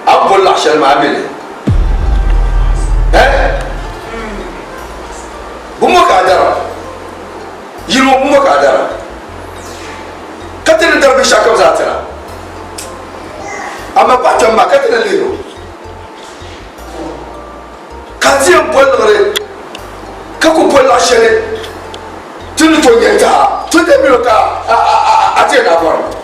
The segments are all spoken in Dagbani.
A ni boli laɣ shɛli maa mi li. Eh? Bumbo ka a dara? Yili ŋɔ bumbo ka a dara? Ka ti ni dari binshɛɣu kam zaa tira? Amaa paɣa kpɛm maa ka ti ni lihir o? Ka a ti yɛn boli liɣiri ka ku boli laɣ shɛli ti ni tooi nya n-ti a? Tɔntɛ mini o ka a ti yɛn daa bɔri?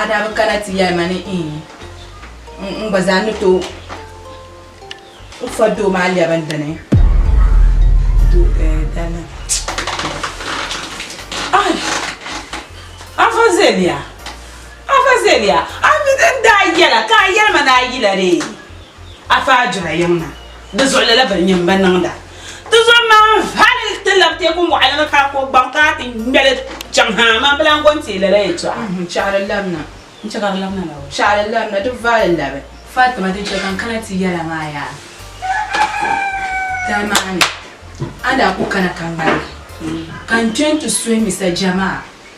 a daa bi kana ti yɛli ma ni n gba zaa ni to n fa doo maa lɛbi n dini dana ai afa zeliya afa zeliya a mi din daa yɛla ka a yɛli ma ni a yila dee afa a jira yiŋ na di zuɣulila bini nyɛ m ba niŋda Ti zo maa hali ti lab teeku mɔɣili ni ka ko gbaŋ ka ti ŋmeli chaŋ ha amaa bɛ lan gɔn teei lala yɛtɔɣa. Shɛɣu di labina n-chɛ ka di labina la o. Shɛɣu di labina di vali labi. Fatima din chɛ ka n kana ti yɛla maa yaa tali maa ni a daa ku kana ka ŋmaligi ka n kpe nti suhi Mr Jamaa.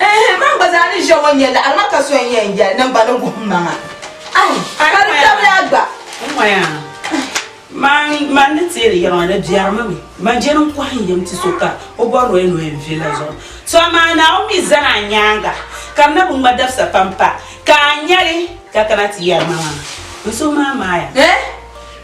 Ehe, man gba zaa ni ʒe ŋɔ n-yɛli a lima ka so n-yɛn yɛli ni n gba ni guhim maŋa. Ayi, ka di tabili a gba. Ŋɔya, man, man ni teeri yɛli ŋɔ di biɛrimi mi. Man je din kɔhi n yɛm ti so ka o bɔri o ya ni o yɛn vili la zuɣu. So amaa Naawuni mi zani a nyaaŋa, ka di na bi ŋma dabisa pam pa ka a nya li ka kana ti yɛri ma maŋa. N so maa maaya. Eeh!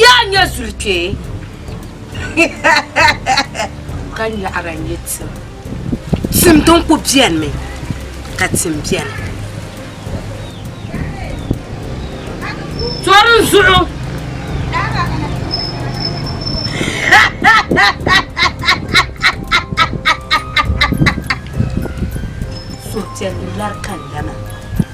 yaa nyɛ zuli kpee ka nyaɣara nyɛ tim tim din ku biɛni mi ka tim biɛni tɔri n zuɣu suhupiɛlli lari ka lana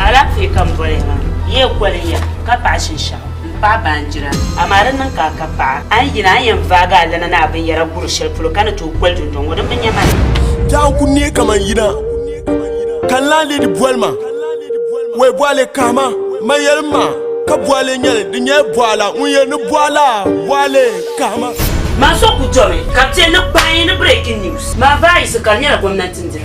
Alaafee ka n boli ha. Yi yɛn koli ya ka paɣi shinshɛɣu m paɣi baanjira amaa di niŋ ka a ka paɣa. A ni yina a ni yɛn vaagi alana ni a binyɛra guri shɛli polo ka ni tooi koli dundɔŋ ŋɔ din bi nya ma ni. Daa n ku neei kaman yina ka n laanleedi boli ma wee bɔɣili kahima m ma yɛlim ma ka bɔɣili nyɛli di nyɛla bɔɣila ŋun yɛli ni bɔɣila bɔɣili kahima. Maa so ku domi ka bɛ chɛ ni kpaai ni breaking news maa vaayisi ka di nyɛla gomnanti n diri.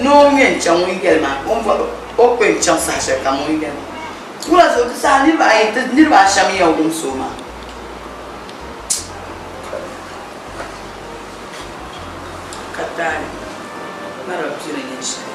ni o ŋmɛ n-chaŋ o yigɛli maa o ni bɔri ba o kpɛ n-chaŋ saha shɛli kam o yigɛli maa wula zuɣu ti saha niriba ayi ti niriba ashɛm n-yɛn wumsi o maa ka taali mali ba pii ni nyin shɛli.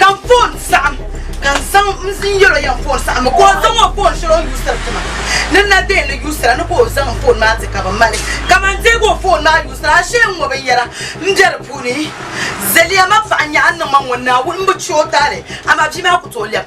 ka n foon saɣim ka n zaŋ n zin yɛl o yɛn foon saɣim mi ka o zaŋ o foon shɛli o ni yuusiri ti ma ni na deei ni yuusira ni ka o zaŋ n foon maa ti ka bɛ ma li ka man deeg o foon maa yuusira ashee n ŋɔ binyɛra m be di puuni Zaliya ma paɣa n-nyɛ a niŋ ma ŋɔ Naawuni m bi che o taali amaa bia maa ku tooi lɛb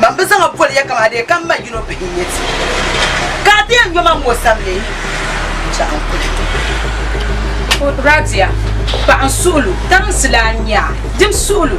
Man bi zaŋ a boli ya kaman a dee ka m ma yino bihi n-nyɛ ti. Ka a dee nyo ma m o sani leei n-chaŋ n kuli ti. Radia, paɣa n suhulu, tarinsi laa n nya a, dim suhulu.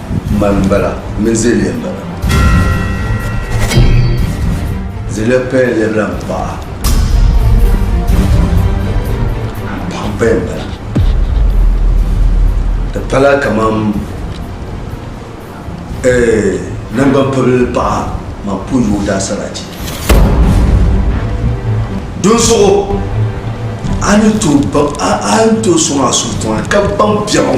Man n bala, n mini Zeliya n bala. Zeliya paya lɛbila n paɣa. Paɣa n paya n bala. Di pala kaman eh, nangban pibili paɣa man po yoo daa sarati. Dunsuɣu, a ni tooi sɔŋ a suhu tiŋa ka baŋ biɛɣu.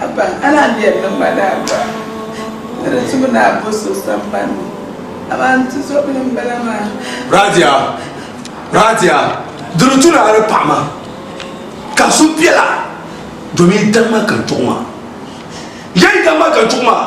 Haba a daa lɛbi ni ma daa gba ni di zuɣu daa bo so samban ni, amaa n tizɔbili n bala maa. Radia, Radia, di ni tu naai di paɣa maa ka so biɛla domin yi dama ka n chuɣu maa. Yaa yi dama ka n chuɣu maa.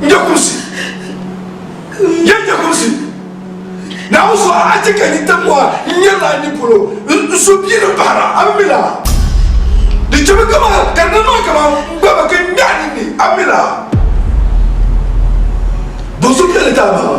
N je kumsi, n je je kumsi. Naawuni so, a chɛ ka n yi ti mɔɣa n nyɛrila ni polo n so bia ni bahira, a mi la? Di chɛmi kaman ka di niŋ ma kaman m ba mi ka n nya a ninni, a mi la? Doo so beni ka a baaba.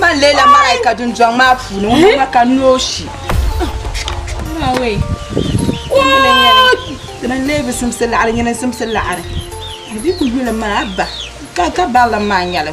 man leela malaika dundɔŋ maa puuni ŋun ma ka nooshi dina n-leei bi simsi laɣiri nyini n-simsi laɣiri a bi ku yuli maa ba ka ka barili maa nyɛli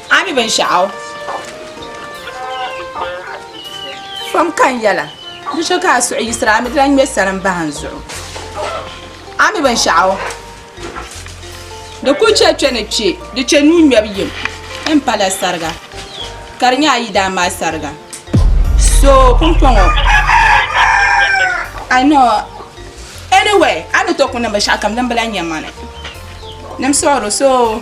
A mi binshɛɣu pam ka n yɛla di so ka a suhu yiɣisira a mi di lan ŋme salim bahi n zuɣu a mi binshɛɣu di kul chɛ kpe ni kpe di chɛ nuu ŋmɛbu yim n pa la sariga ka di nyɛ a yidaan maa sariga so pumpɔŋɔ I know anyway a ni tooi ku niŋ binshɛɣukam din bi lan nya mani ni m suɣiri so.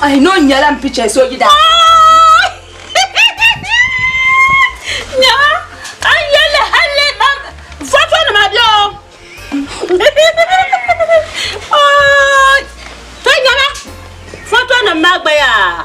Ai no nyɛla m picha so yida. Nya an yɛli halli ba foto nima bɛ o. To nyɛla foto nima maa gba yaa.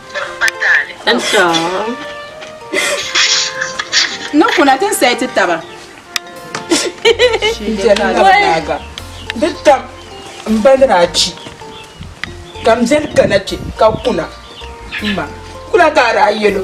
Ni kuna ti nsɛi ti taba. Di tam mba ni daa chi ka m beni kana kpe ka kuna m ma kuna ka a daa yɛl o.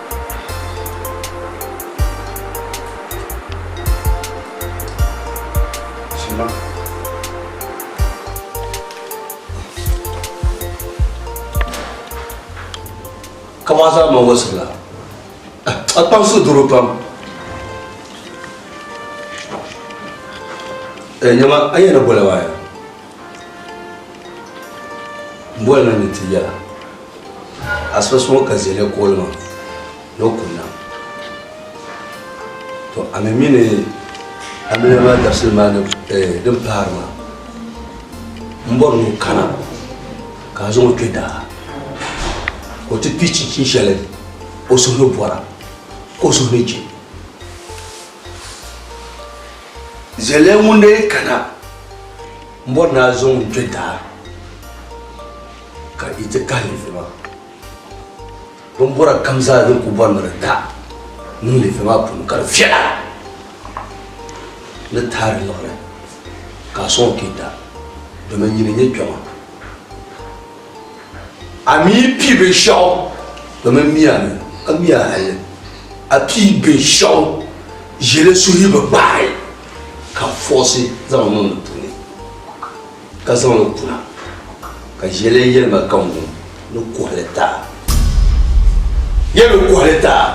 Kamɔn zaa ma wɔsi la. A kpaŋ so doro pam. Ɛ nyama a yɛn na bɔla waaya. M boli na ni ti yɛla, asiba so ŋɔ ka Zele kooli ma ni o kum na. To a mi mi ni amiliya maa dabisili maa ni eh din pahiri maa, m bɔri ni o kana ka a zaŋ o kpe daa ka o ti pii chinchini shɛli o suhu ni bɔra ka o suhu ni je. Zɛlɛ ŋun dee kana n bɔri ni a zo ŋun kpɛ daa ka yi ti kahi lefe maa bin bɔra kam zaa din ku bɔri ni di da niŋ lefe maa puuni ka di viɛla ni taai di luɣuli ka a soŋ kpɛ daa domin nyini nyɛ kpɛma A mi pi binshɛɣu domin miya ni a miya hali a pi binshɛɣu ʒili suhi bi kpahi ka fɔɣisi zaŋ niŋ di puuni ka zaŋ li kuna ka ʒili yɛlima ka ŋun ni kuhili taa yɛn ni kuhili taa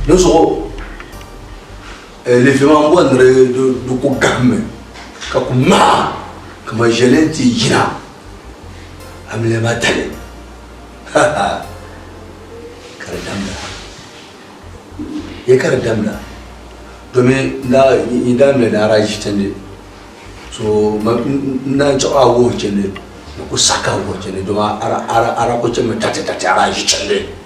di zuɣu Levi maa bɔniri di ku gahimmi ka ku ŋmahi kaman ʒiɛli nti yina amiliya tali. Ha ha! Ka di damda. Yɛ ka di damda? Domin yi daa mi daa daa ʒi chandi, so n daa chaɣ a wuhi chandi, di ku saɣ ka a wuhi chandi domin a daa ku chɛmi tati tati a daa ʒi chandi.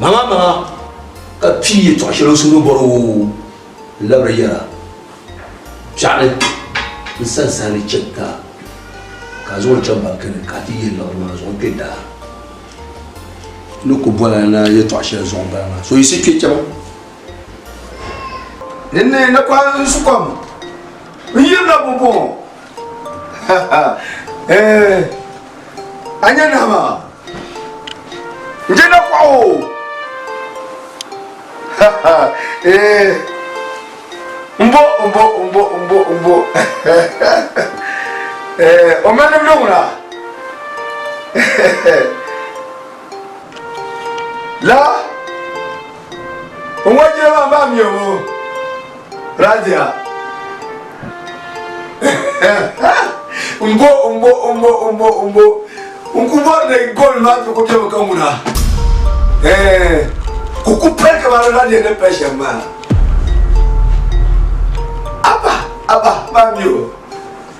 maŋa maŋa ka pii yɛtɔɣ shɛli o suhuri bɔri o labiri yɛra piɛɣu ni n sani sani chɛ ka ka zaŋ o chaŋ banki ni ka ti yihi labiri maa zuɣu n kpɛ daa ni ku bɔla na yɛtɔɣ shɛli zuɣu bala maa so yiɣisi kpɛ chɛba dinni na kɔhiri n sukɔm n yirina bɔbɔŋɔ Eh, a nya nahi maa n je na kɔɣu eh, mbo mbo mbo mbo mbo eh, o mali nimdi ŋuna la n wa jiri maa maa mi o Radia. mbo mbo mbo mbo mbo. N ku bɔri ni gol maa ti ku kpɛmi ka ŋuna. Eh, ku ku pali kamani Radia ni pali shɛm maa. Abba, abba, maa mi o.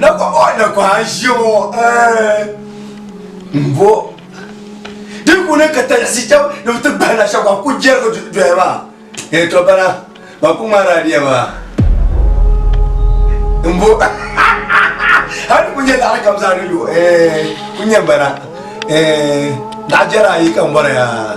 na kɔbɔ na kɔha ʒiɛ ŋɔ n bo di kuni ka talisi chɛb ni bi ti bahi na shɛba ku jɛrigi doya maa ee to bana ba ku ŋmaari adiya maa n bo hali ku nyɛ laɣari kam zaa ni yo ee ku nyɛ bana ee laɣa jɛra ayi ka n bɔra yaa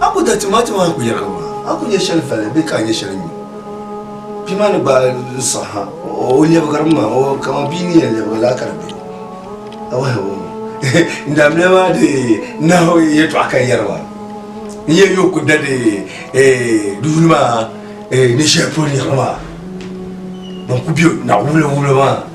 a ku dariti maa ti maa ku yɛrigi maa a ku nyɛ shɛli vali bee ka a nyɛ shɛli nyu bia maa ni gbaai n sɔŋ ha o lɛbigirimi maa o kama bia ni yɛn lɛbigi laa ka di bɛ a wahi o n daabiliya maa di nahu yɛtɔɣa ka yɛri maa n yɛn yo ku dali duuni maa ni shɛli polo yɛri maa ban ku bɛ naɣu wula wula maa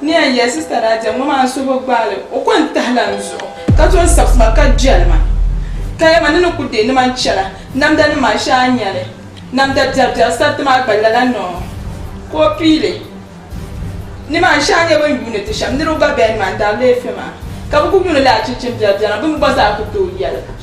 Ni yɛn yɛli sista daa diɛm ŋɔ maa so bi gbaai li o ko n tahi la n zuɣu ka to n sabi tuma ka jɛli ma ka yɛli ma ni ni ku deei ni ma n chana namda nim maa shee a ni nya li namda biɛri biɛri sariti maa gba lala ni o ka o pii li ni maa shee a nya bin yuuni ti shɛm niriba gba bɛn ni maa n dari leefe maa ka bi ku yuuni li achinchin biɛri biɛri maa bini gba zaa ku tooi yɛli.